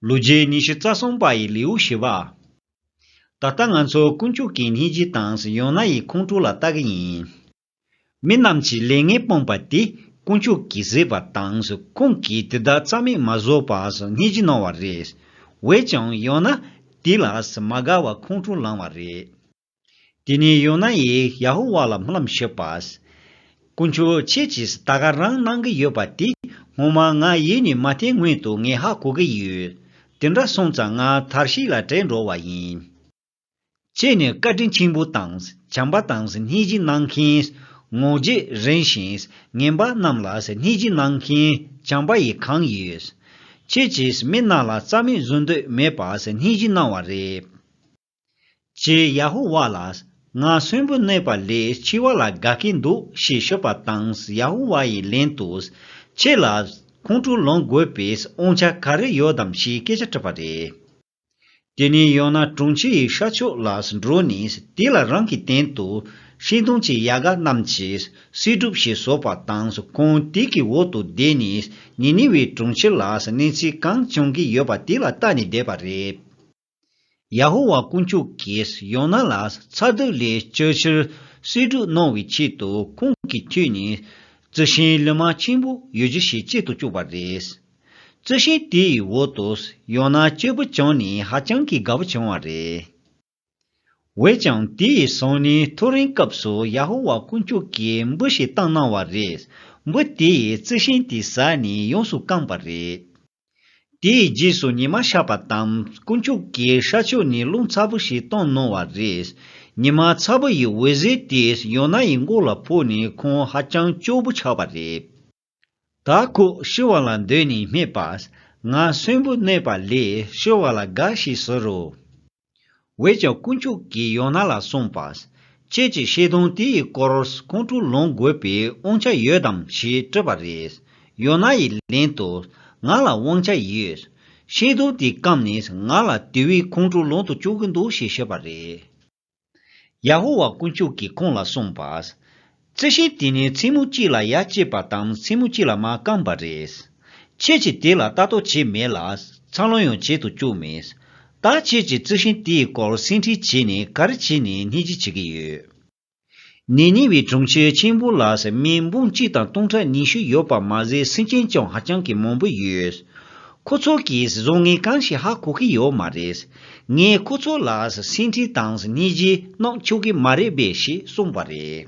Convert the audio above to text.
ལོ་རྒྱུས་ཉི་ཤུ་རྩ་གསུམ་པ་ཡི་ལེའུ་བཞི་པ། ད་ལྟ་ང་ཚོ་དཀོན་མཆོག་གི་སྙིང་རྗེའི་དྭངས་ཡོང་ན་ཡི་ཁོང་ཁྲོ་ལ་ལྟ་གི་ཡིན། མི་རྣམས་ཀྱིས་ལས་ངན་སྤངས་པ་དེ་དཀོན་མཆོག་གིས་བཟོས་པ་དང་ཁོང་གིས་དེ་དག་རྩ་མེད་མ་བཟོ་བར་སྙིང་རྗེ་གནང་བ་རེད། འོད་ཀྱང་ཡོང་ན་དེ་ལ་མ་དགའ་བར་ཁོང་ཁྲོ་ལངས་བ་རེད། དེ་ནས་ཡོ་ནཱ་ཡིས་ཡ་ཧོ་ཝཱ་ལ་སྨོན་ལམ་ཞུས་པ། དཀོན་མཆོག་ཁྱེད་ཀྱིས་ད་ག་རང་གནང་གི་ཡོད་པ་དེ་ངོ་མ་ང་ཡིད་ནས་མ་བརྟན་སྔོན་དུ་ངས་ཧ་གོ་གི་ཡོད། དེ་འདྲ་སོང་ཙང་ང་དར་ཤིག་ལ་བྲེལ་འགྲོ་བ་ཡིན། ཁྱེད་ནི་བཀའ་དྲིན་ཆེན་པོ་དང་བྱམས་པ་དང་སྙིང་རྗེ་གནང་མཁན། ངོ་རྒྱས་རིང་ཞིང་ངན་པ་རྣམས་ལ་སྙིང་རྗེ་གནང་མཁན་བྱམས་པ་ཡིས་གང་ཡོད། ཁྱེད་ཀྱིས་མི་རྣམས་ལ་རྩ་མེད་བཟོ་འདོད་མེད་པར་སྙིང་རྗེ་གནང་བ་རེད། ཅེས་ཡ་ཧུ་བྷ་ལ་ང་གསོན་པོ་གནས་པ་ལས་འཆི་བ་ལ་དགའ་གི་འདུག་ཞེས་ཤོད་པ་དང་ཡ་ཧུ་བྷ་ཡི་ལན་དུ། ཁྱེད་ལ་ཁོང་ཁྲོ་ལོངས་དགོས་པའི་དབང་ཆ་ག་རེ་ཡོད་དམ་ཞེས་སྐད་ཆ་དྲིས་པ་རེད། དེ་ནས་ཡང་ན་དྲུང་ཆེ་ཡི་ཤར་ཕྱོགས་ལ་འགྲོ་ནས་དེ་ལ་རང་གི་སྟེང་དུ་ཤིང་སྡོང་གི་ཡལ་ག་རྣམས་ཀྱི་བསིལ་སྒྲུབ་ཞེས་བཟོ་བ་དང་ཁོང་དེ་གི་འོག་ཏུ་བསྡད་ནས་ནི་ནི་ཝའི་དྲུང་ཆེ་ལ་གནས་ཚུལ་གང་བྱུང་གི་ཡོད་པ་དེ་ལ་བལྟ་ནས་བསྡད་པ་རེད། ཡ་ཧོ་ཝཱ་དཀོན་མཆོག་གིས་ཡོ་ནཱ་ལ་ཚ་དུག་ལས་བཅོལ་ཕྱིར་གསེར་འབྲུག་གནང་བའི་ཆེད་དུ་ཁོང་གི་ཁྱོད་ནི་རྩི་ཤིང་ལི་མ་ཆེན་པོ་ཡོད་རྒྱུ་ཞིག་བྱེད་དུ་བཅུག་པ་རེད། རྩི་ཤིང་དེའི་འོག་ཏུ་ཡོ་ནཱ་སྐྱེས་བུ་བྱུང་ནས་ཧ་ཅང་གི་དགའ་བོ་བྱུང་བ་རེད། འོན་ཀྱང་དེའི་སང་ཉིན་ཐོ་རེངས་སྐབས་སུ་ཡ་ཧོ་ཝཱ་དཀོན་མཆོག་གིས་འབུ་ཞིག་བཏང་གནང་བ་རེད། འབུ་དེས་རྩི་ཤིང་དེ་ཟ་ནས་ཡོངས་སུ་བཀང་པ་རེད། དེའི་རྗེས་སུ་ཉི་མ་ཤར་བ་དང་དཀོན་མཆོག་གི་ཤར་ཕྱོགས་ནས་རླུང་ཚ་པོ་ཞིག་གཏོང་གནང་བ་རེད། ཉི་མ་ཚ་པོ་ཡི་འོད་ཟེར་དེས་ཡོ་ནཱ་ཡི་མགོ་ལ་ཕོག་ནས་ཁོང་ཧ་ཅང་སྐྱོ་པོ་ཆགས་པ་རེད། ད་ཁོ་ཤི་བ་ལ་འདོད་ནས་སྨྲས་པ། ང་གསོན་པོ་གནས་པ་ལས་ཤི་བ་ལ་དགའ་ཞེས་ཟེར་རོ། བས་ཀྱང་དཀོན་མཆོག་གིས་ཡོ་ནཱ་ལ་གསུངས་པ། ཁྱེད་ཀྱིས་བཤད་དོན་དེ་ཡི་སྐོར་ཁོང་ཁྲོ་ལོངས་དགོས་པའི་དབང་ཆ་ཡོད་དམ་ཞེས་དྲིས་པ་རེད། ཡོ་ནཱ་ཡིས་ལན་དུ། ང་ལ་དབང་ཆ་ཡོད། བཤད་དོན་དེ་སྐམ་ནས་ང་ལ་དེ་བས་ཁོང་ཁྲོ་ལོངས་དུ་བཅུག་གི་འདུག་ཞེས་བཤད་པ་རེད། ཡ་ཧོ་ཝཱ་དཀོན་མཆོག་གིས་ཁོང་ལ་གསུངས་པ། རྩི་ཤིང་དེ་ནི་ཚིལ་མུ་གཅིག་ལ་ཡར་བསྐྱེད་པ་དང་ཚིལ་མུ་གཅིག་ལ་མར་བསྐམས་པ་རེད། ཁྱེད་ཀྱིས་དེ་ལ་ལྟ་རྟོག་བྱས་མེད་ལ། འཚར་ལོངས་ཡང་བྱེད་དུ་བཅུག་མེད། ད་ཁྱེད་ཀྱིས་རྩི་ཤིང་དེའི་སྐོར་སེམས་ཁྲལ་བྱས་ནས་ག་རེ་བྱས་ནས་སྣེ་གཅིག་བྱེད་ཀྱི་ཡོད། ནས་ཉེ་བའི་གྲོང་ཁྱེར་ཆེན་པོ་ལ་ཟེར་མའི་འབུམ་གཅིག་དང་སྟོང་ཕྲག་ཉི་ཤུ་ཡོད་པ་མ་ཟད་སེམས་ཅན་ཀྱང་ཧ་ཅང་གི་མང་པོ་ཡོད། ཁོ་ཚོ་གིས་བཟོ་ངའི་གང་ཞིག་ཧ་གོ་གི་ཡོད་མ་རེད། ངས་ཁོ་ཚོ་ལ་སེམས་ཁྲལ་དང་སྙིང་རྗེ་གནང་ཆོག་གི་མ་རེད་པས་ཞེས་གསུངས་པ་རེད།